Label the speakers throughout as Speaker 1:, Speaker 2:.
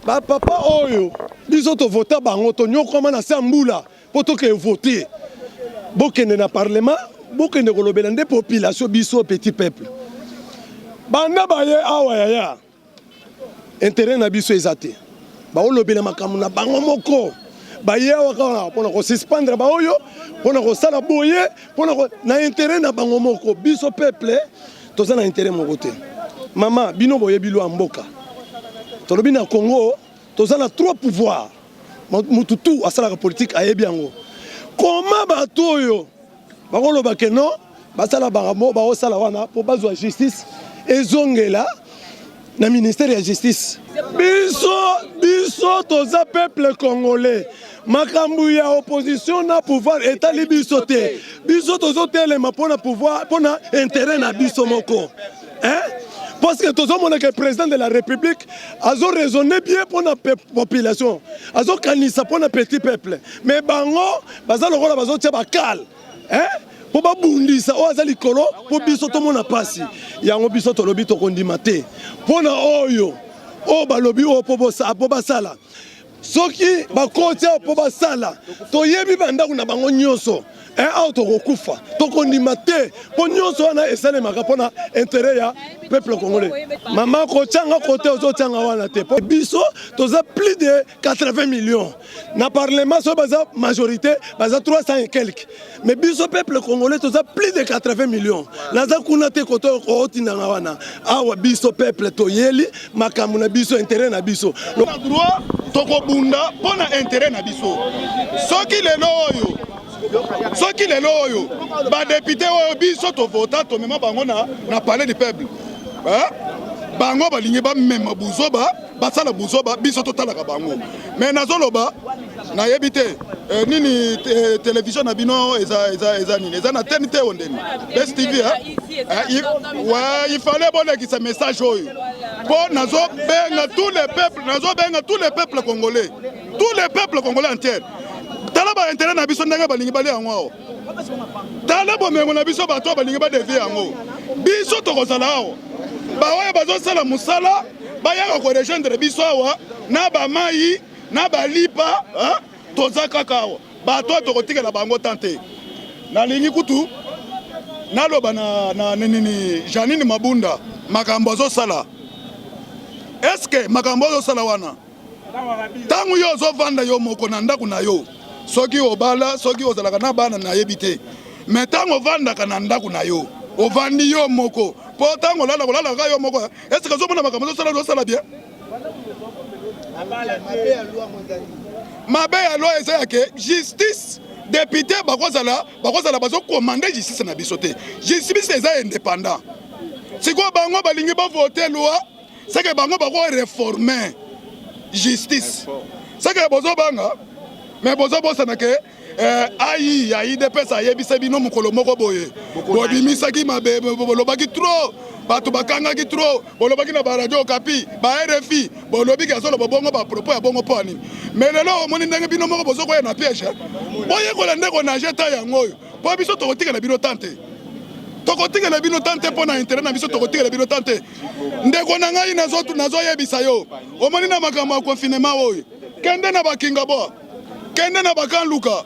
Speaker 1: bapapa oyo biso tovota bango tonyokwama na se ya mbula Mpo toke vote bokende na parlement bokende kolobela nde population biso petit peuple banda baye awa yaya interet na biso eza te baolobela makambo na bango moko baye awa kaka mpona kosuspendre baoyo mpona kosala boye mpona na interet na bango moko biso peuple toza na interet moko te mama bino boyebi lwa mboka tolobi na congo Toza na trop pouvoir. Mutu tout asalaka politique ayebi yango. Comment bato oyo bakoloba que non basala bango bakosala wana mpo bazwa justice ezongela na ministère ya justice. Biso biso toza peuple congolais. makambo ya opposition na pouvoir etali biso te biso tozotelema mpona pouvoir mpona interet na biso moko Hein? parce que tozomona ke président de la république azo raisonne bien mpo na population azokanisa mpo na petit peuple mais bango baza lokola bazotya bakale mpo babundisa oyo aza likolo mpo biso tomona mpasi yango biso tolobi tokondima te mpo na oyo oyo balobi oyo mpo basala soki bakoti awa mpo basala toyebi bandako na bango nyonso eh, awa tokokufa tokondima te mpo nyonso wana esalemaka mpo na intere ya peuple congolais mama kotyanga kote ozotyanga wana te mpo biso toza plus de 80 millions na parlement soki baza majorité baza 300 et quelque mais biso peuple congolais toza plus de 80 millions naza kuna te koto ootindanga wana awa biso peuple toyeli makambo na biso intérêt na biso na droit
Speaker 2: tokobunda mpo na intérêt na biso soki lelo oyo soki lelo oyo badepute oyo biso tovota tomema bango na, na palais du peuple eh? bango balingi bamema buzoba basala buzoba biso totalaka bango me nazoloba nayebi te eh, nini eh, televizio na bino eza, eza, eza nini eza na teni te ondeni best tv eh? eh, ouais, ifale bolekisa message oyo mpo nazobenga tous les peuples nazobenga tous les peuples congolais tous les peuples congolais entiere tala bainteret na biso ndenge balingi balia yango awa tala bomengo na biso bato oyo balingi badevie yango biso tokozala awa baoyo bazosala mosala bayaka korejoindre biso awa na bamai na balipa toza kaka awa bato oyo tokotikela bango tan te nalingi kutu naloba na, na, na, na, na janine mabunda makambo azosala eske makambo azosala wana ntango yo ozovanda yo moko na ndako na yo soki obala soki ozalaka na bana nayebi te me ntango ovandaka na ndako na yo ovandi yo moko mpo ntango olala kolalaka yo moko esika ozomona makambo ozosala ozosala bien mabe ya loi eza yake justice depute bakozala bakozala bazokomande justice na biso te justice eza indépendant sikoyo bango balingi bavote loi seke bango bako reformer justice seke bozobanga me bozobosana ke eh, ai ya idps ayebisa bino mokolo moko boye bobimisaki mabe bolobaki trop bato bakangaki trop bolobaki na baradio okapi ba rfi bolobiki azoloba bongo bapropos ya bongo mpo anini me lelo omoni ndenge bino moko bozokoya na piège boyekola nde konage ta yango oyo Po biso tokotikela bino temps te. Tokotikela bino temps te pona intérêt na biso tokotikela bino temps te. Ndeko na ngai nazo nazo yebisa yo. Omoni na makambo ya confinement oyo. Kende na bakinga bo. Kende na bakanluka.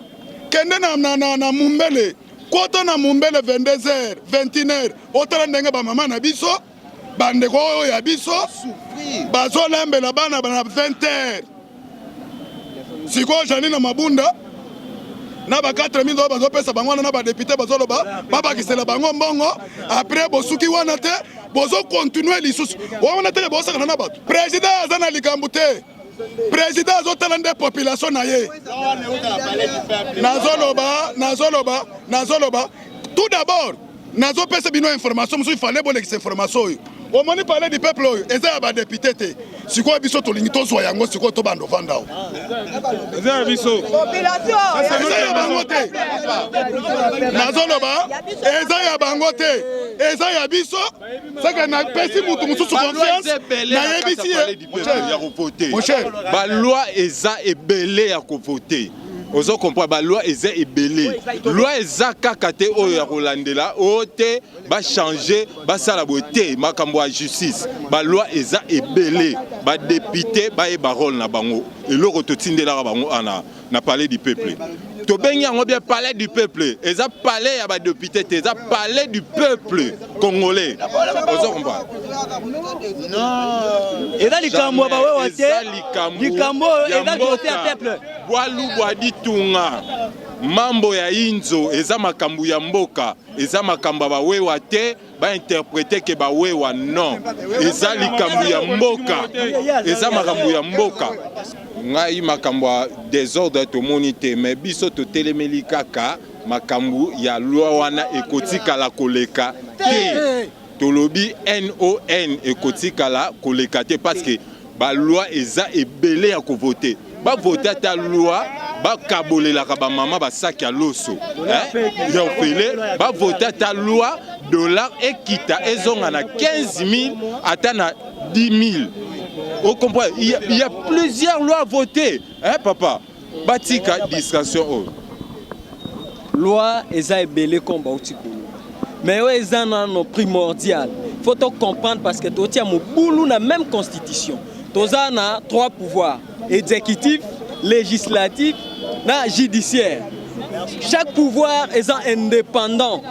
Speaker 2: Kende na na na, na mumbele. Kota na mumbele 22h, 21h. Otala ndenge ba mama na biso bandeko oyo ya biso bazolambela bana na 20 heures sikoyo jani na mabunda na ba 4000 oyo bazopesa bango wana na badepute bazoloba babakisela bango mbongo apres bosuki wana te bozokontinue lisusu wana te bosakana na bato president aza na likambo te president azotala nde population na ye nazoloba nazoloba nazoloba tout d'abord nazopesa bino information mosusu ifale bolekisa information oyo omoni palais du peuple oyo eza ya badepute te sikoyo biso tolingi tozwa yango sikoyo tobanda ovanda o eza ya biso eza ya bango te nazoloba eza ya bango te eza ya biso seke napesi motu mosusu confiance nayebisi ye baloi
Speaker 3: eza ebele ya kovote ozo comprendre ba loi eza ebele loi eza kaka te oyo ya kolandela oyo te ba changer basala boye te makambo ya justice ba loi eza ebele ba depute bayeba role na bango eloko totindelaka bango ana na palais du peuple tobengi yango bien palais du peuple eza palais ya badepute te eza palais du peuple congolais ozo comprendre
Speaker 4: eza likambo ya bawewa te likambo oyo eza dote ya peuple bwalu bwa
Speaker 3: ditunga mambo ya inzo eza makambo ya mboka eza makambo ya bawewa te ba interprete ke ba wewa non eza likambo ya mboka eza makambo ya mboka ngai makambo ya desordre tomoni te me biso totelemeli kaka makambo ya lwa wana ekotikala koleka te tolobi non ekotikala koleka te parce que Ba loi eza ebele ya ko voter. Ba voter ata loi bakabolelaka bamama basaki ya loso eh, ya ofele bavote ata loi dollar ekita ezonga na 15 000 ata na 10 000 okomprendre il y a plusieurs lois vote eh, papa Batika distraction oyo.
Speaker 4: Loi eza ebele comme bauti koloba. Mais oyo eza nano primordial. Faut to comprendre parce que totia mobulu na même constitution. Toza na trois pouvoirs, exécutif, législatif na judiciaire. Chaque pouvoir est indépendant.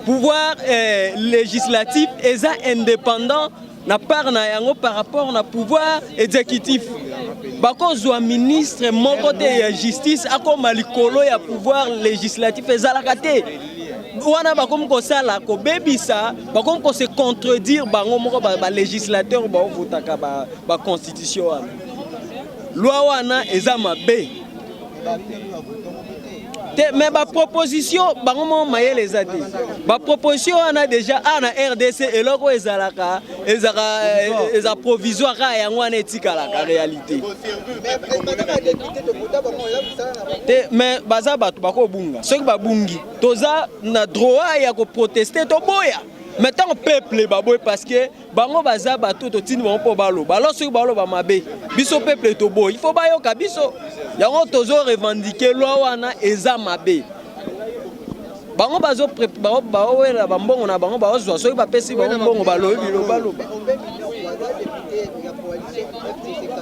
Speaker 4: Pouvoir eh, législatif est indépendant na part na yango par rapport na pouvoir exécutif bakozwa ministre moko te ya justice akoma likolo ya pouvoir législatif ezalaka te wana bakomi kosala kobebisa bakomi kose contredire bango moko balégislateur ba baovotaka baconstitution ba wana loi wana eza mabe te mais ba proposition bango mo mayele eza te ba proposition wana déjà a na rdc eloko ezalaka ezaka eh, eza provisoire kaka yango wana etikalaka réalité te mais baza bato bakobunga soki babungi toza na droit ya koproteste toboya mais ntango peuple baboye parce que bango baza bato totindi bango mpo baloba alors soki baloba mabe biso peuple toboyi il faut bayoka biso yango tozo revendiquer loi wana eza mabe bango baowela bambongo na bango baozwa soki bapesi bango mbongo balobi bilobaloba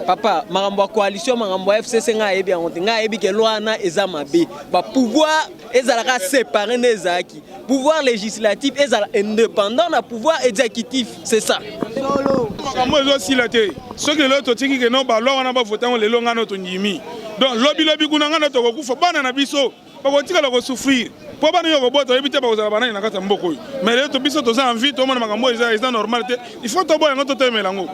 Speaker 4: papa makambo ya coalition makambo ya fcc ngai ayebi yango te ngai ayebi ke loi wana eza mabe bapouvoir ezalaka separe nde ezalaki pouvoir législatif ezala indépendant na pouvoir exécutif c'est ça makambo
Speaker 2: ezosila te soki lelo totiki ke no balwa wana bavotango lelo ngai no tondimi donc lobilobi kuna ngai no tokokufa bana na biso bakotikala kosouffrir mpo bana yo kobota oyebi te bakozala banani na kati ya mboka oyo mais lelo biso toza envie tomona makambo oyo eza normal te il faut toboya yango totemela yango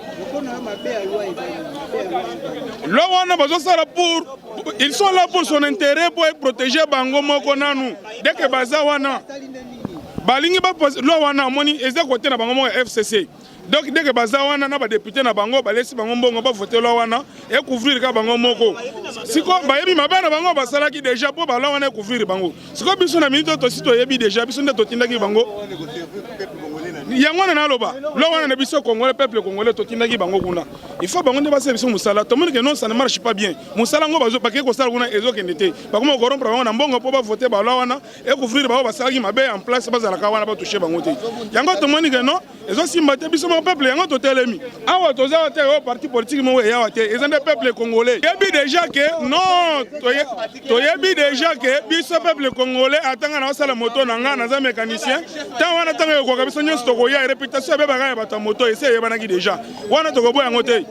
Speaker 2: loi wana bazosala pour ils sont là pour son intérêt mpo eprotéger bango moko nanu deke baza wana balingi bapoze loi wana amoni eza kote na bango moko ya fcc donc deke baza wana na badepute na bango balesi bango mbongo bavote loi wana ekouvrir kaka bango moko sikoyo bayebi mabe na bango basalaki deja mpo baloi wana ekouvrir bango sikoyo biso na minute oyo tosi toyebi deja biso nde totindaki bango yango wana naloba loi wana na biso congolais peuple congolais totindaki bango kuna il faut bango nde basala biso mosala tomoni ke non ça ne marche pas bien mosala yango bakei kosala kuna ezokende te bakoma korompre bango na mbongo mpo bavote balwa wana ekouvrir bango basalaki mabe en place bazalaka wana batouche bango te yango tomoni ke non ezosimba te biso moko peuple yango totelemi awa toza wa te oyo parti politique moko eyawa te eza nde peuple congolais yebi deja ke non toyebi deja ke biso peuple congolais atanga na osala moto na ngai naza mécanicien ntango wana ntango ekokoka biso nyonso tokoya reputation ebebaka ya bato ya moto esi eyebanaki deja wana tokoboya yango te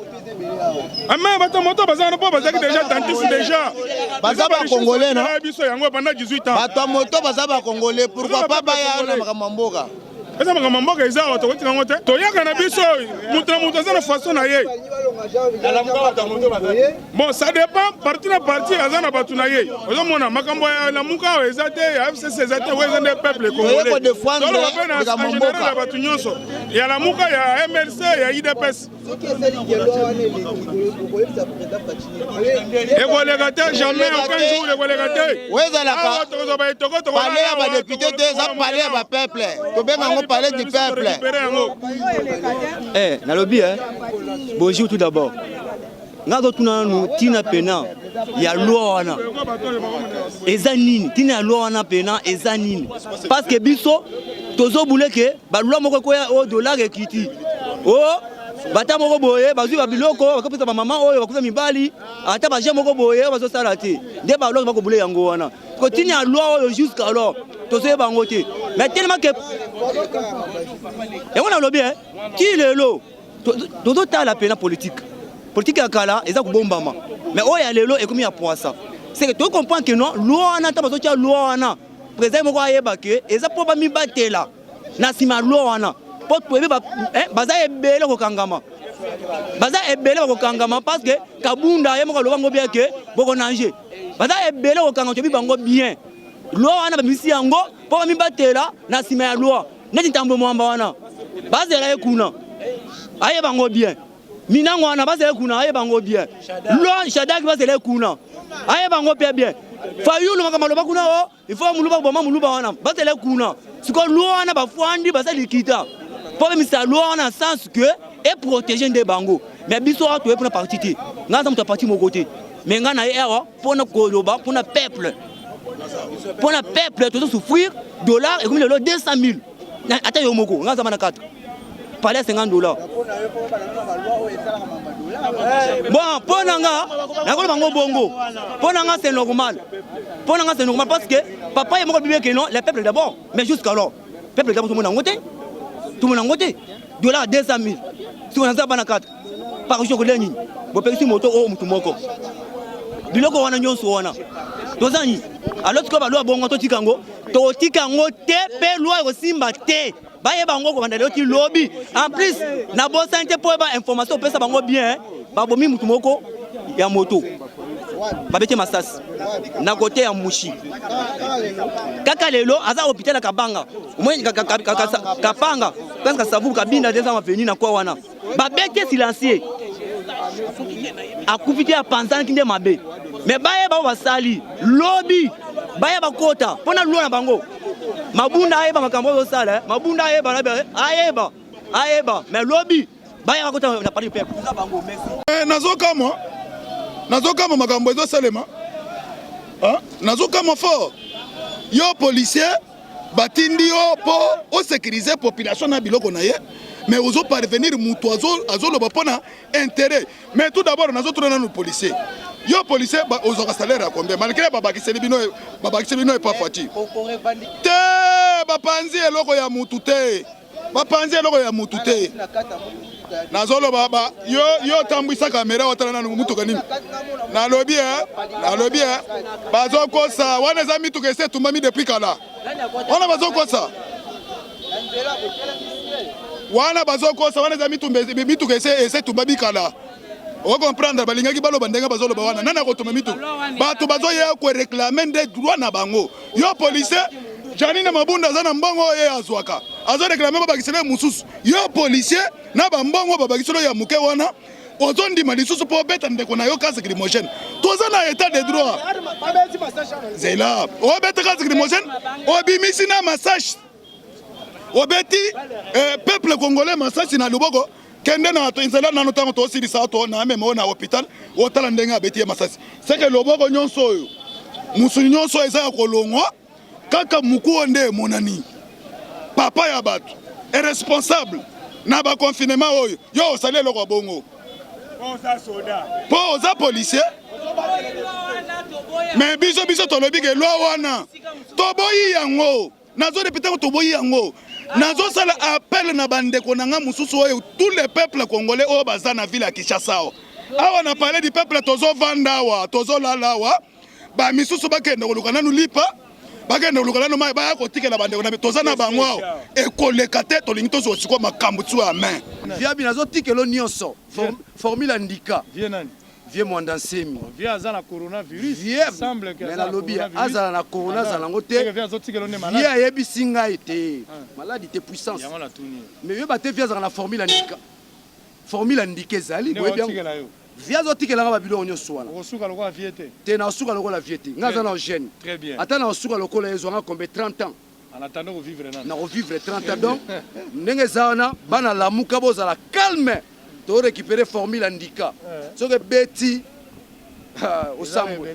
Speaker 2: ame ah, bato moto baza wana mpo bazalaki deja tantis deja baza bakongole
Speaker 5: na biso yango banda 18 ans
Speaker 2: bato ya moto baza
Speaker 5: bakongole pourkoi pa baya na makambo ya mboka eza makambo
Speaker 2: mboka eza awa tokotika yango te toyaka na biso moto na moto aza na façon na ye bon ça dépend parti na parti aza na bato na ye ozomona makambo ya lamuka awa eza te ya fcc eza te oyo eza nde peuple congolaisoloba mpe
Speaker 5: na general
Speaker 2: ya bato nyonso ya lamuka ya mlc ya idps ekoleka te jamais aucun jour ekoleka te ezalaka
Speaker 5: pale ya badepute te eza pale ya bapeuple tobenga yango pale du peuple
Speaker 4: eh, nalobi eh. bonjour tout d'abord nga azotuna nanu ntina pena ya loi wana eza nini ntina ya loi wana pena eza nini parce que biso tozobule ke balwa moko ekoya o oh, dollar ekiti o oh, bata
Speaker 6: moko boye bazwi babiloko bakopesa bamama oyo bakufa mibali ata baje moko boye oyo bazosala te nde balwa bakobule yango wana kotini ya lwa oyo jusqu'à alors tozoye bango te mais telema ke yango nalobi e ti lelo tozotala mpena politike politike ya kala eza kobombama mais oyo ya lelo ekomi ya poisa seke tokomprenke no lwa wana ntango bazotya lwa wana President moko ayeba que eza mpo bamibatela na nsima ya loi wana mpo toyebi eh, baza ebele kokangama baza ebele bakokangama parce que kabunda ye moko aloba yango bien ke bokonange baza ebele kokanga toyebi bango bien loi wana babimisi yango mpo bamibatela na nsima ya loi neti ntambo mwamba wana bazela ye kuna ayeba yango bien Minango wana bazali kuna ayeba ngo bien. Loi Shadak bazali kuna ayeba ngo pia bien. Fayulu makambo aloba kuna o oh, il faut muluba koboma muluba wana bazali kuna. Siko loi wana bafwandi bazali likita mpo bemisa loi wana na sens que eprotege nde bango mais biso awa toye mpona parti te ngai aza moto ya parti moko te mais ngai naye awa mpona koloba mpona peuple mpona peuple tozo souffrir dollar ekomi lelo 200 000 ata yo moko nga aza bana 4 pale ya 50 dollars bon mpo na nga nakoloba ngo bongo mpo na nga c'est normal mpo na nga c'est normal parce que papa ye moko bibi eke non le peuple d'abord mais jusqu'alors peuple d'abord tomona yango te tomona yango te dollar 200 000 sikoyo naza bana 4 Parution kolia nini? Bopekisi moto oyo motu moko. Biloko wana nyonso wana. Toza nini? Alors sikoyo balwa bongo totika yango, totika yango te mpe lwa ekosimba te. bayeba yango kobanda lelo ti lobi en plus na bosani te mpo oyeba information opesa bango bien babomi motu moko ya moto babete masasi na kote ya mushi kaka lelo aza hôpital ya kabanga omoni kapanga prince kasavu kabinda te eza maveni na kwa wana babete silencieux akufi te apanzanaki nde mabe me bayeba oyo basali lobi baya bakota mpo na lulo na bango mabunda ayeba makambo oyo osala eh. mabunda ayeba na eh. ayeba ayeba me lobi baya bakota na pari pepe eh, nazokamwa
Speaker 2: nazokamwa makambo ezosalema nazokamwa fort yo policier batindi yo mpo osekirize population na biloko na ye mais ozo parvenir moto azoloba mpo na intérêt mais tout d'abord nazotuna nanu policier yo policier ozwaka salaire ya combien malgré babakiseli bino babakiseli bino epa fati te bapanzi eloko ya motu te bapanzi eloko ya mutu te nazoloba ba yo yo otambwisa kamera otala nanu motuka nini nalobi eh, nalobi eh, bazokosa wana eza mituka esi etumbami depuis kala wana bazokosa wana bazokosa wana eza mituka esi etumbami kala okomprendre balingaki baloba ndenge bazoloba wana nani akotumba mituka bato bazoya koreklame nde droit na bango Yo policier Janine Mabunda aza na mbongo oyo ye azwaka azo reklame babakisela ye mosusu. Yo policier na bambongo babakisela ya moke wana ozondima lisusu mpo obeta ndeko na yo kasi grimogene toza na etat de droit zela obeta kasi grimogene obimisi na massage obeti eh, peuple congolais masasi na luboko kende na nzela nano ntango tosilisa to na amema oyo na hopital otala ndenge abeti ye masasi seke loboko nyonso oyo mosuni nyonso oyo eza ya kolongwa kaka moku oyo nde emonani papa ya bato irresponsable na baconfinema oyo yo osali eloko ya bongo mpo oza policier me biso biso tolobi ke lwa wana toboyi yango nazo repete ko toboyi yango nazo sala appel na bandeko na nga mosusu oyo tous les peuples congolais oyo baza na ville ya Kinshasa awa na palais du peuple tozo vanda awa tozo lala awa ba misusu bakende koluka nanu lipa bakende koluka nanu mai baya kotikela bandeko na toza na bango awa ekoleka te tolingi tozwa sikoyo makambo tiwa ya main viabi nazotikelo
Speaker 7: nyonso formule andika Vieux Mwanda Nsemi. Vieux aza na coronavirus. Vieux semble que mais nalobi azala na corona azala nango te. Vieux ayebisi ngai te. Ah. Maladi te puissance. Yango na tuni. Mais vieux bate vieux azala na formule andika. Formule andika ezali boyebi yango. Vieux azotikela nga ba biloko nyonso wana. Okosuka lokola vieux te. Te na osuka lokola vieux te. Nga aza na gene. Très bien. Ata na osuka lokola ezwa nga kombe 30 ans. nako vivre 30 ans donc ndenge eza wana bana lamuka bozala calme to récupérer formule andika soki ebeti osambwe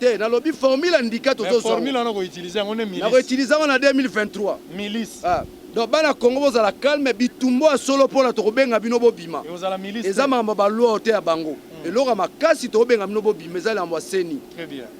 Speaker 7: te nalobi formule andika tozonakoutilize yango na 2023 ah. donc bana congo bozala calme bitumbo ya solo mpona tokobenga bino bobima eza makambo ya baloi oyo te ya bango hmm. eloko ya makasi tokobenga bino bobima eza likambo ya seni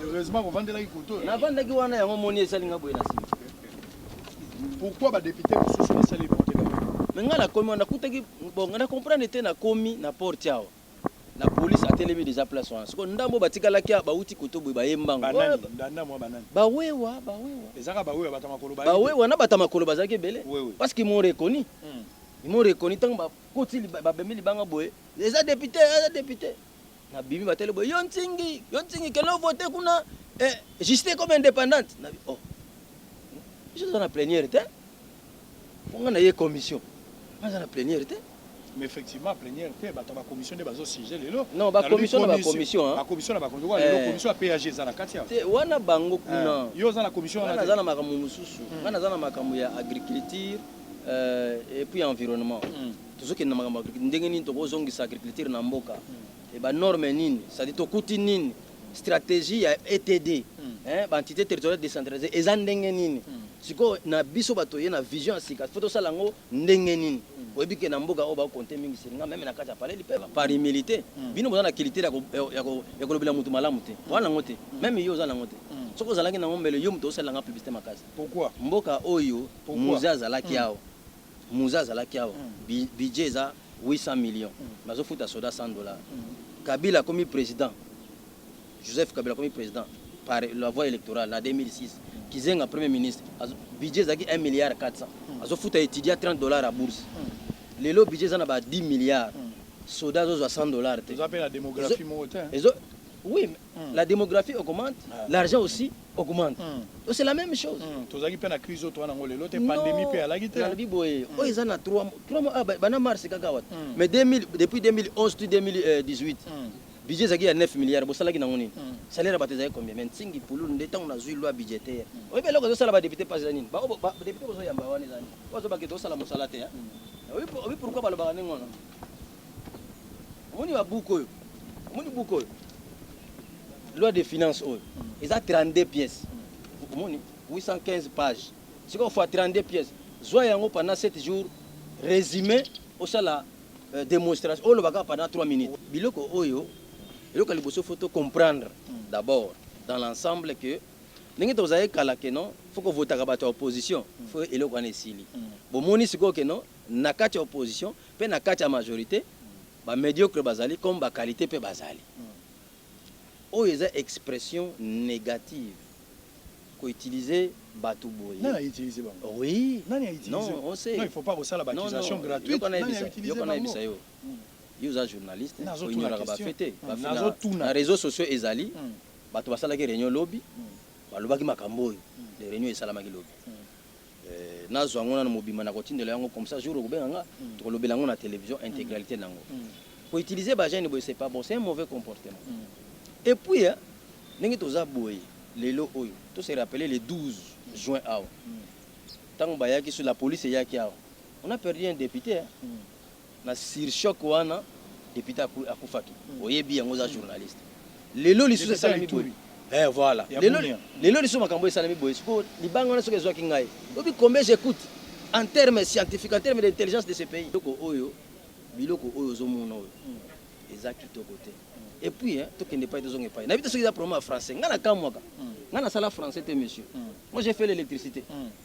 Speaker 4: heureusement kovandela
Speaker 1: ikoto navandaki wana yango moni
Speaker 4: esali nga boye na sima
Speaker 1: pourquoi badepute mosusu basali eporte me ngai nakomi
Speaker 4: wana nakutaki bon ngai na comprendre te nakomi na porte awa na polise atelemi deja place wana soko ndambo batikalaki awa bauti koto boye baye mbango
Speaker 1: bawewa bawewa na bata makolo
Speaker 4: bazalaki ebele parce qu'ils m'ont reconnu hmm. ils m'ont reconnu ntango Koti ba bemi libanga boye eza depute eza depute na bimi ba tele boye yo ntingi yo ntingi kende vote kuna eh, justice comme independante na oh je suis na plenière te pour nga na ye commission nga na plenière te mais effectivement
Speaker 1: plénière te bato ba commission nde bazo sujet lelo non ba commission na ba
Speaker 4: commission hein ba commission na ba commission lelo
Speaker 1: eh. commission ya PAG eza na kati te wana bango
Speaker 4: kuna eh. yo za na commission wana
Speaker 1: za na makambo mususu
Speaker 4: hmm. wana za na makambo ya agriculture Euh et puis environnement tozo kende na makambo ya ndenge nini toko zongisa agriculture na mboka et ba normes nini c'est à dire tokuti nini strategie ya ETD hein ba entites territoriales decentralisees eza ndenge nini sikoyo na biso batu toye na vision ya sika faut tosala yango ndenge nini oyebi ke na mboka oyo ba compter mingi sur nga meme na kati ya palais du peuple par humilite bino boza na culture ya kolobela mutu malamu te boza nango te meme yo oza nango te soki ozalaki nango mbele yo mutu ozo salela nga publicite makasi pourquoi mboka
Speaker 1: oyo
Speaker 4: Muze azalaki awa muze azalaki awa budget eza 800 millions bazo futa soda 100 dollars kabila akomi president Joseph kabila akomi president par la voie electorale na 2006 kizenga premier ministre budget ezalaki 1 milliard 400 azo futa etudiant 30 dollars ya bourse lelo budget eza na ba 10 milliards soda azo zwa 100 dollars te eza pe na demographie moko
Speaker 1: te hein oui
Speaker 4: mm. la démographie augmente ah. l'argent aussi augmente mm. c'est la même chose mm. tozalaki mpe na crise oyo
Speaker 1: towana yango lelo te pandémie mpe alaki te nalobi boye mm. oyo eza
Speaker 4: na 3 mois ah, bana mars kaka wata mm. mais 2000, depuis 2011 to 2018 mm. budget ezalaki ya 9 milliards bosalaki nango nini mm. salaire ya bato ezalaki combien mais ntingi pululu nde ntango nazwi loi budgétaire mm. oyebi eloko ezosala badepute mpasi eza nini badepute bozoyamba wana eza nini oyo azobaki tosala mosala te oyebi pourquoi balobaka ndenge wana Omoni ba buku oyo? Omoni buku oyo? Loi de finance oyo eza 32 pièces. Omoni 815 pages. Sikoyo fois 32 pièces. Zwa yango pendant 7 jours, resume osala euh, demonstration. Oloba kaka pendant 3 minutes. Biloko oyo eloko ya liboso faut to comprendre d'abord dans l'ensemble que ndenge tozalaki kala que non faut kovotaka bato ya opposition faut eloko wana esili. Bomoni sikoyo que non na kati ya opposition Pe na kati ya majorite, ba mediocres bazali comme ba qualites pe bazali. Oyo eza expression negative ko utiliser batu boye. Nani a utiliser bango?
Speaker 1: Oui. Nani a
Speaker 4: utiliser? Non,
Speaker 1: on sait. Non, il faut pas
Speaker 4: kosala ba accusations
Speaker 1: gratuites. Non, non. Nani a utiliser bango? Yoka
Speaker 4: nayebisa yo. Yo oza journaliste, ko ignoraka ba faits te. Ba faits na reseaux sociaux ezali. Batu basalaki reunion lobi, balobaki makambo oyo. Reunion esalamaki lobi. Nazwa yango nanu mobimba nakotindela yo yango comme ça jour okobenga nga tokolobela yango na television integralite na yango. Ko utiliser ba jeunes boye c'est pas bon, c'est un mauvais comportement. Et puis hein ndenge toza boye lelo oyo to se rappeler le 12 juin awa tango bayaki sur la police eyaki awa on a perdu un depute hein. Na sur choc wana depute akufaki oyebi yango oza journaliste lelo lisusu esalami boye eh voilà lelo lelo lisusu makambo esalami boye siko libanga wana soki ezwaki ngai obi combien j'écoute en terme scientifique en terme d'intelligence de ce pays biloko oyo biloko oyo ozomona oyo eza kitoko te et puis hein, tokende epai tozonga epai nayebi te soki eza problème ya français ngai nakamwaka ngai nasala français te monsieur moi j'ai fait l'électricité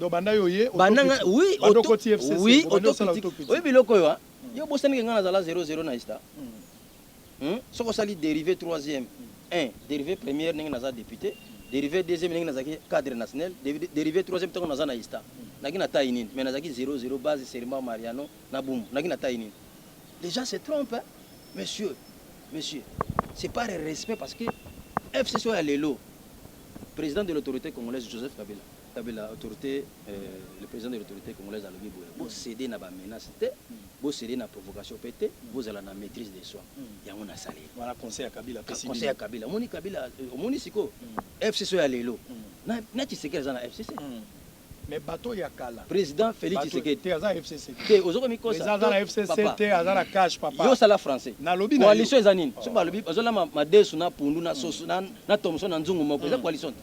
Speaker 4: Donc banda yo
Speaker 1: ye banda nga oui banda
Speaker 4: okoti FCC oui
Speaker 1: banda osala auto
Speaker 4: critique oyebi biloko oyo hein hmm. yo bosani ke nga nazala 00 na esta hmm. hmm? soki osali dérivé 3e 1 dérivé première ndenge naza député dérivé
Speaker 6: deuxième ndenge nazalaki cadre national dérivé troisième ntango naza na esta naki na taille nini mais nazalaki 00 base serma mariano na bumu naki na taille nini les gens se trompent hein? monsieur monsieur c'est pas respect parce que fcc oyo ya lelo président de l'autorité congolaise joseph kabila Kabila autorite le president de l'autorite congolaise alobi boye bo ceder na ba menaces te bo ceder na provocation pe te bozala na maitrise de soi yango na sali wana conseil ya kabila
Speaker 8: apesi bino conseil ya kabila omoni kabila
Speaker 6: omoni sikoyo FCC oyo ya lelo na tshisekedi aza na FCC Mais
Speaker 8: bateau ya kala. Président Félix Tshisekedi.
Speaker 6: Te aza FCC. Te
Speaker 8: ozokomi mikosa. Eza
Speaker 6: aza na FCC te
Speaker 8: aza na cash papa. Yo sala français. Na lobi
Speaker 6: na. Coalition eza
Speaker 8: nini? Soki balobi
Speaker 6: bazolama madesu na pundu na soso na na tomson na nzungu moko eza coalition te.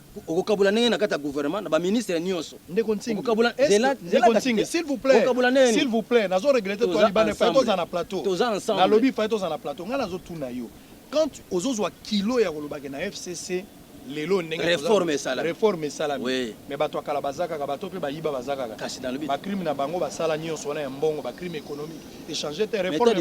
Speaker 6: Okokabula ndenge na kati ya gouvernement na ba ministre nyonso. Ndeko Nsingi. Okokabula
Speaker 8: zela zela
Speaker 6: Nsingi s'il
Speaker 8: vous plaît. Okokabula nani? S'il vous plaît, nazo regretter toi libane fa to za na plateau. To za ensemble. Na lobi fa to za na plateau. Nga nazo tuna yo. Quand ozo zwa kilo ya koloba ke na FCC lelo ndenge reforme esala reforme
Speaker 6: esala
Speaker 8: oui. mais bato ya
Speaker 6: kala baza kaka
Speaker 8: bato mpe bayiba baza kaka kasi dans le but ba crime
Speaker 6: na bango basala
Speaker 8: nyonso wana ya mbongo ba crime économique échanger te reforme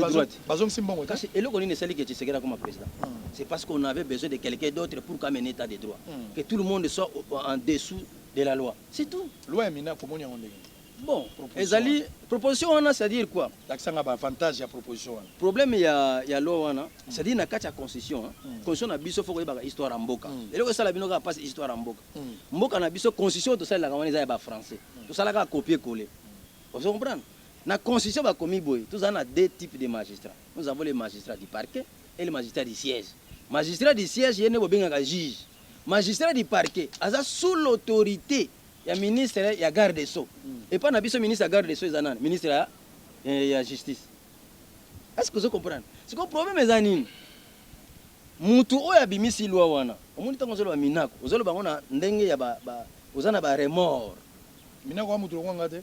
Speaker 8: Bazongisi mbongo te. Kasi eloko nini esali que
Speaker 6: Tshisekedi akoma president? C'est parce qu'on avait besoin de quelqu'un d'autre pour ko amener etat de droit. Que tout le monde soit en dessous de la loi. C'est tout. Loi ya Minaku omoni yango
Speaker 8: ndenge nini? Bon, ezali
Speaker 6: proposition wana c'est à dire quoi? Lakisa nga ba avantages
Speaker 8: ya proposition wana. Problème ya ya
Speaker 6: loi wana c'est à dire na kati ya constitution, constitution na biso faut koyebaka histoire ya mboka. Eloko esala bino kaka pasi histoire ya mboka. Mboka na biso constitution oyo tosalelaka wana eza ya ba français. Tosala kaka copier coller. Ozo comprendre? Na constitution bakomi boye tozali na deux types de magistrats nous avons le magistrat du parquet et le magistrat du siège magistrat du siège ye nde bobengaka juge magistrat du parquet aza sous l'autorite ya ministre ya garde des sceaux epai na biso ministre ya garde des sceaux eza nani ministre ya, eh, ya justice est ce que ozo comprendre sikoyo problème eza nini mutu oyo abimisi loi wana omoni ntango ozoloba minaku ozoloba yango na ndenge ya ba, ba, oza na ba remords Minako wa
Speaker 8: mutu lokola nga te.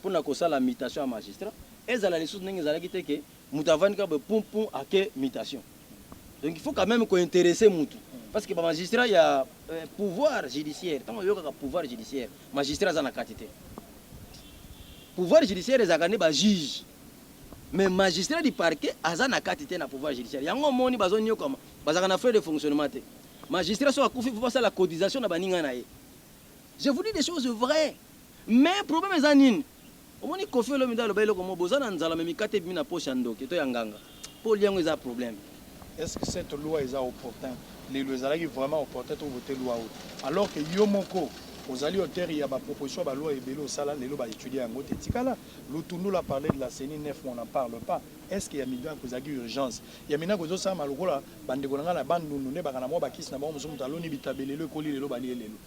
Speaker 6: mpo na kosala mutation ya magistrat ezala lisusu ndenge ezalaki te que mutu avandi kaka boye pum pum ake mutation donc il faut quand même ko interesser mutu parce que ba magistrat ya euh, pouvoir judiciaire ntango oyokaka pouvoir judiciaire magistrat aza na kati te pouvoir judiciaire ezalaka nde ba juge mais magistrat du parquet aza na kati te na pouvoir judiciaire yango omoni bazonyokama bazalaka na frais de fonctionnement te magistrat soki akufi mpo basala cotisation na baninga na ye je vous dis des choses vraies Mais problème eza nini? Omoni koffi olomide aloba eloko moko boza na nzala mais mikate ebimi na poche ya ndoki to ya nganga po olia yango eza problème. Est-ce que cette
Speaker 8: loi eza opportun? Lelo ezalaki vraiment opportun to voter loi oyo alors que yo moko ozali auteur ya ba propositions ya ba lois ebele osala lelo ba etudier yango te? Tikala Lutundula a parler de la ceni, Nef on n'en parle pas. Est-ce que ya Minaku ezalaki urgence? Ya Minaku ezo salama lokola ba ndeko na ngai na Bandundu nde baka na mua ba kisi na bango mosusu mutu aloni bitabe lelo ekoli lelo balie lelo.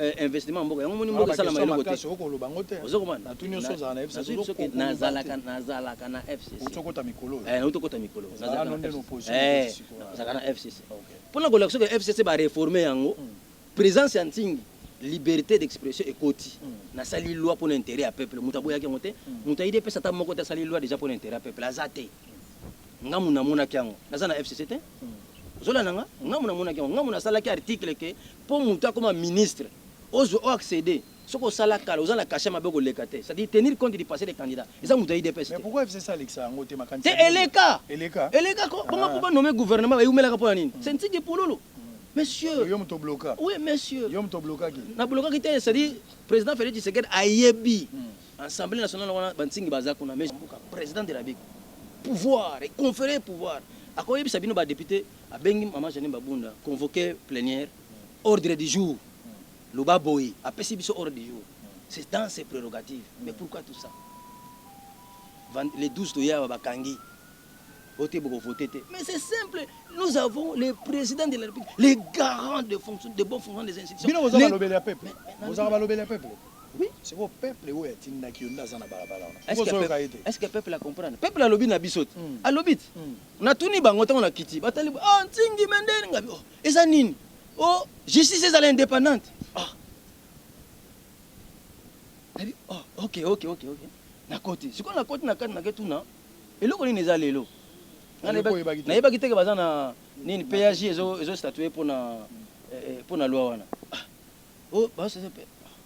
Speaker 6: Eh, investissement mboka yango moni mboka esalama eloko te
Speaker 8: nazalaka
Speaker 6: nazalaka na fccnazalaka
Speaker 8: na
Speaker 6: fcc mpona eh, kolakisa ke fcc bareforme yango hmm. présence ya ntingi liberté d'expression ekoti hmm. nasali loi mpona intérêt ya peuple moto aboyaki yango te hmm. moto ayidi epesa ata moko te asali loi déjà mpona intérêt ya peuple aza te nga muna namonaki yango naza na fcc te zola na nga nga muna namonaki yango nga muna nasalaki article ke Po mutu akoma ministre ozwe o acceder soki osala kala oza na cachet ya mabe oko leka te c'est à dire tenir compte du passe des candidats eza mutu ya udps te. Mais pourquoi FCC alekisa yango
Speaker 8: te makanisi ya ndenge nini? Te eleka
Speaker 6: eleka ko bongo po ba nommer gouvernement ba eumelaka pona nini c'est ntsiki pululu monsieur yo mutu o bloka
Speaker 8: oui monsieur
Speaker 6: yo mutu o
Speaker 8: blokaki
Speaker 6: na blokaki te
Speaker 8: c'est à
Speaker 6: dire
Speaker 8: president
Speaker 6: Felix
Speaker 8: Tshisekedi
Speaker 6: ayebi assemblee nationale wana ba ntsingi baza kuna mais president de la Republique pouvoir et confere pouvoir ako yebisa bino ba deputes Abengi maman Jeanine Babunda convoque plenière ordre du jour loba boye apesi biso ordre du jour c'est dans ses prerogatives mais pourquoi tout ça le 12 toye awa bakangi ote boko voter te mais c'est simple nous avons le président de la République les garants de fonction de bon fonctionnement des institutions bino bozaka lobele ya peuple
Speaker 8: bozaka balobele ya peuple oui c'est quoi
Speaker 6: peuple
Speaker 8: oyo atindaki yo nda za na balabala wana
Speaker 6: est-ce que peuple a comprendre peuple alobi na biso te alobi te Natuni bango tango nakiti batali bo ah Nsingi mais nde ngabi oh eza nini oh justice ezala independante ah nabi oh ok ok ok ok nakoti sikoyo nakoti na kati nake tuna eloko nini eza lelo nayebaki teke baza na nini paj ezo statue mpo na mpo na loi wana oh bazo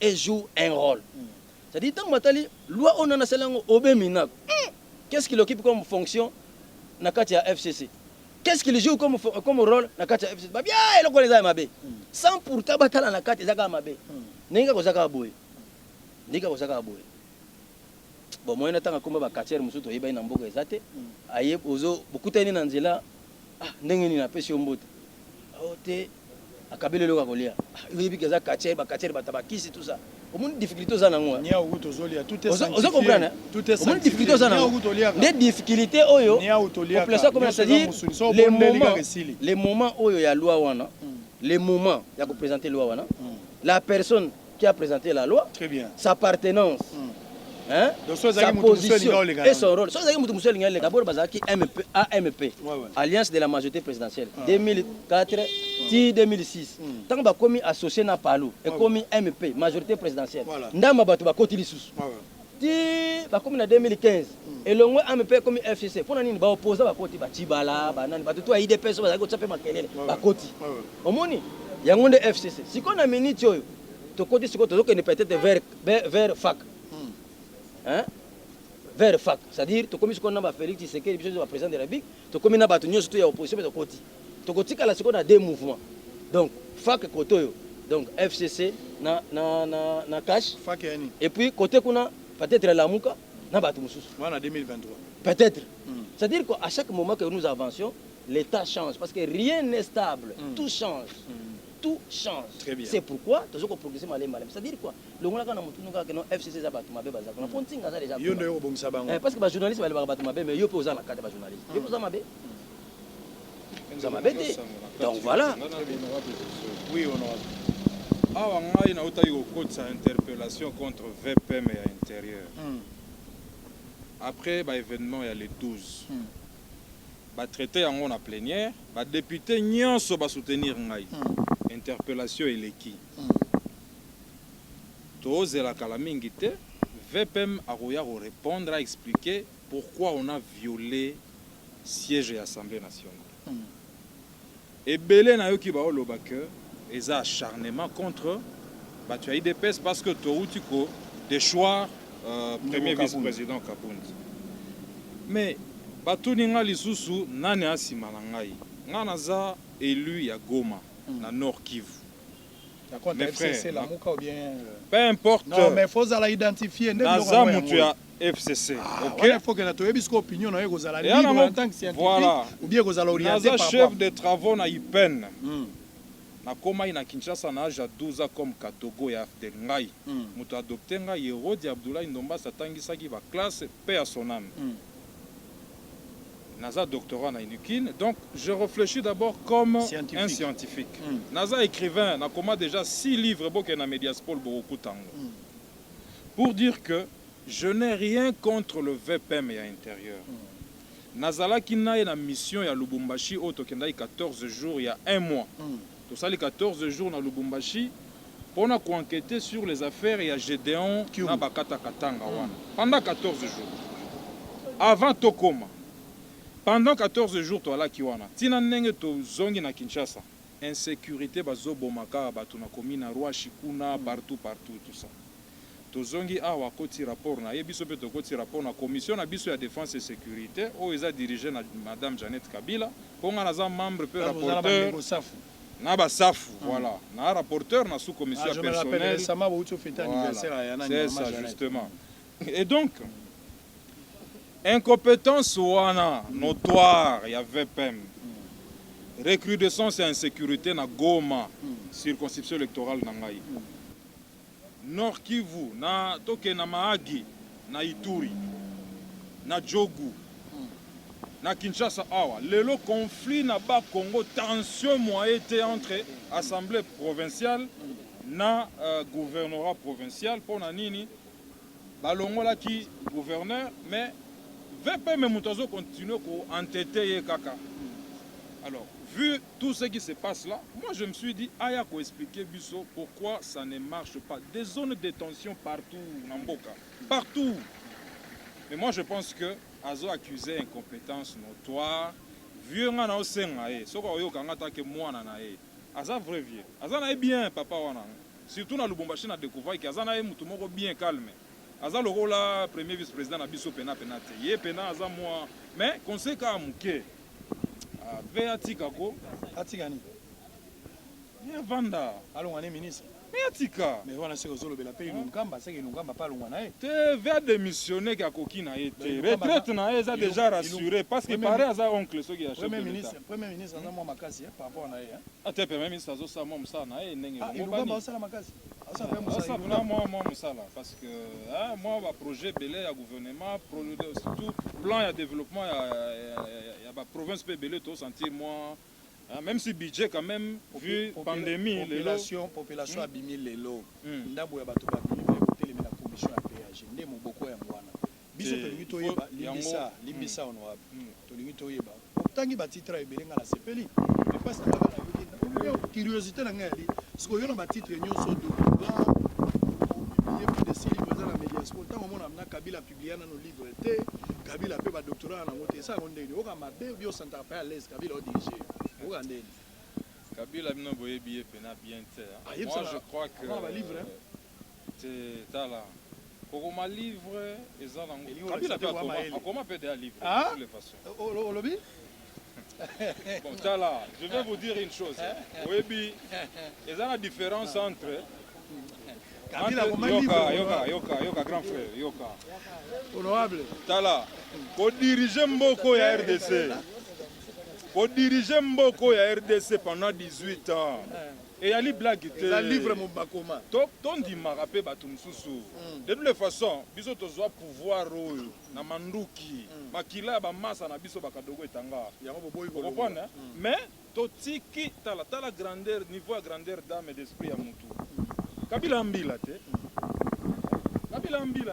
Speaker 6: e joue un role c'est à dire tango batali loi oyo nani asali yango Aube Minaku hum qu'est ce qu'il occupe comme fonction na kati ya FCC qu'est ce qu'il joue comme comme role na kati ya FCC ba bien eloko wana eza ya mabe sans pourtant batala na kati eza kaka mabe ndenge kaka oza kaka boye ndenge kaka oza kaka boye bon moyen na tanga komba ba quartier mosusu toyebani na mboka eza te aye ozo bokutani na nzela Ah ndenge nini apesi yo mbote? Oh te akabeli eloko ya kolia. Ah, yo yebi ke aza katcher, ba katcher bata ba kisi tout ça. Omoni difficulté oza nango? Niawu kutu ozolia tout
Speaker 8: est sanctifié. Ozo comprendre? Tout est
Speaker 6: sanctifié. Omoni difficulté oza nango? Niawu kutu oliaka. Nde difficulté oyo. Niawu toliaka. Population comme ça dit le moment le moment oyo ya loi wana, mm. le moment ya ko présenter loi wana, mm. la personne qui a presente la loi sa appartenance mm. hein? Donc, so sa position et son rôle soki ezalaki moto mosusu elingi aleka bolo bazalaki mp amp ouais, ouais. alliance de la majorité présidentielle ah. 2004 mm. ti 2006 ntango mm. bakomi associe na palu ekomi ouais, ouais. mp majorité présidentielle voilà. ndambo bato bakoti lisusu ouais, ouais. ti bakomi na 2015 elongwe ame mpe ekomi fcc mpo na nini baopoza bakoti bacibala banani bato to ya idps bazali kotya mpe makelele bakoti omoni yango nde fcc sikoyo na miniti oyo tokoti sikoyo tozokende peut-être vers, vers fac hmm. hein? vers fac c'est-à-dire tokomi sikoyo na ba Félix Tshisekedi biso ba président de la République tokomi na bato nyonso to ya opposition mpe tokoti Tokotikala sikoyo na deux mouvements. Donc FAC kote oyo donc FCC na na na na cash. FAC yani. Et
Speaker 8: puis kote kuna
Speaker 6: peut-être Lamuka na batu mususu. Wana 2023.
Speaker 8: Peut-être. Mm.
Speaker 6: C'est-à-dire qu'à chaque moment que nous avancions, l'état change parce que rien n'est stable, mm. tout change. Mm. tout change. Très bien. C'est pourquoi tozo ko progresser malem malem. C'est-à-dire quoi? Longola kana mutu nunga kana FCC za batu mabe baza. Na fonti nga za déjà. Yo ndio yo bongisa bango. Eh
Speaker 8: parce que ba journalistes ba ba batu
Speaker 6: mabe mais yo pe oza na kata ba journalistes. Yo oza mabe. eza mabe te donc voilà
Speaker 3: awa ngai nautaki kokotisa interpellation contre vpm ya intérieur hmm. après baévénement ya le 12 hmm. batraite yango na plénière badepute nyonso basoutenir ngai hmm. interpellation eleki tozela kala mingi te vpm akoya korépondre aexplike Pourquoi on a viole siège ya assemblee nationale? Ebele nayoki bao loba que eza acharnement contre batu ya udps parce que towuti ko dechoir premier vice president kabund. Mais batuni nga lisusu nani aza sima na ngai? Nga naza elu ya goma na nord kivu.
Speaker 8: Mes frères, peu
Speaker 3: importe
Speaker 8: naza mutu ya.
Speaker 3: FCC. Ah, ok. Wana faut que na
Speaker 8: toyebi siko opinion na yo ekozala libre en tant que scientifique voilà. ou bien ekozala orienté par chef de travaux na
Speaker 3: IPEN. Hmm. nakomaki na kinshasa na age ya 12 ans comme katogo ya afdel ngai mm. moto adopte ngai herodi abdoulahi ndombasi atangisaki baklasse mpe ya soname mm. naza doctorat na inukine donc je réfléchis d'abord comme scientifique. un scientifique mm. naza écrivain nakoma déjà six livres bokende na mediaspol bokokuta yango mm. Pour dire que je n'ai rien contre le VPM ya interieur. Nazalaki naye na mission ya Lubumbashi oyo tokendaki 14 jours ya un mois. Tosali 14 jours na Lubumbashi pona
Speaker 9: ko enqueter sur les affaires ya Gedeon na Bakata Katanga wana pendant 14 jours. Avant tokoma, pendant 14 jours toalaki wana ti na ndenge tozongi na Kinshasa. Insecurite bazo boma kaka batu na commune ya Ruashi kuna partout partout tout ça tozongi awa akoti rapport naye biso pe tokoti rapport na commission na biso ya defense et securite oyo eza dirige na madame Jeannette Kabila po nga naza membre pe rapporteur na ba safu voilà na rapporteur na sous commission ya personnel voilà c'est ça justement Et donc, incompétence wana notoire ya VPM, recrudescence ya insécurité na Goma, circonscription électorale na ngai, Nord Kivu, na toke na Mahagi, na Ituri, na Djogu, na Kinshasa awa lelo conflit na ba Congo tension moyen te entre assemblée provinciale na uh, gouvernorat provincial mpo na nini Balongolaki gouverneur mais VPM mutu azo continuer ko enteter ye kaka. Alors, vu tout ce qui se passe là, moi je me suis dit aya ko expliquer biso pourquoi ça ne marche pas. Des zones de tension partout na mboka, partout. Mais moi je pense que azo accuser incompetence notoire. Vieux nga na osenga ye, soki oyoka nga take mwana na ye. Aza vrai vieux. Aza na ye bien papa wana. Surtout na Lubumbashi na decouvraki aza naye mutu moko bien calme aza lokola premier vice president na biso pena pena te ye pena aza mua mais conseil kaka muke ah, ve atika ko atika
Speaker 8: nini
Speaker 9: ye avanda alonga ne ministre
Speaker 8: mais atika
Speaker 9: mais wana seke ozolobela
Speaker 8: pe inunkamba seke inunkamba pa alonga na ye te ve ademissionne
Speaker 9: ke akoki na ye te retraite na ye eza deja rassure parce que pare aza oncle soki ya chef de l'etat premier ministre aza
Speaker 8: mua makasi par rapport na ye Ata premier ministre
Speaker 9: azosala mwa mosala na ye ndenge elongobani. Ah, asala makasi.
Speaker 8: Asala mpe mosala. Asala
Speaker 9: mwa mwa mwa mosala parce que hein, mwa ba projet belé ya gouvernement surtout plan ya développement ya ya, ya ba province pe belé to sentir mwa hein, même si budget quand même vu Popula pandémie population lelo. population
Speaker 8: hmm. abimi lelo hmm. ndambo ya bato babimi pe kotelemela commission ya péage nde moboko ya mwana Biso tolingi toyeba limbisa limbisa honorable tolingi toyeba otangi ba titre ebele nga nasepeli mais pasi na nga kaka nayoki curiosite na nga yali siko yo na ba titre nioso document opublie plus de 6 livre eza na medias po ntango omona na kabila publia nano livre te kabila pe ba doctorat na nango te esa yango ndeni oyoka mabe obi osantaka pe alaise kabila o dirige yo oyoka ndeni kabila
Speaker 9: bino boyebi ye pena bien te moi je crois que
Speaker 8: Te
Speaker 9: tala kokoma livre eza na ngo kabila pe akoma akoma pe deja livre ah? toutes les façons olobi bon tala je vais vous dire une chose oyebi eza na différence entre kabila akoma livre yoka yoka yoka yoka grand frère yoka honorable
Speaker 8: tala
Speaker 9: ko diriger mboko ya RDC ko diriger mboko ya RDC pendant 18 ans eh. Eyali blague te. Eza livre mo bakoma.
Speaker 8: To to ndimaka
Speaker 9: pe batu mususu. Mm. De toutes les façons, biso tozwa pouvoir oyo na manduki. Mm. Makila ya ba masa na biso bakadogo etanga. Yango boboyi ko. Comprendre?
Speaker 8: Mm. Mais
Speaker 9: totiki tala tala grandeur niveau ya grandeur d'âme et d'esprit ya mutu. Mm. Kabila ambila te. Mm. Kabila ambila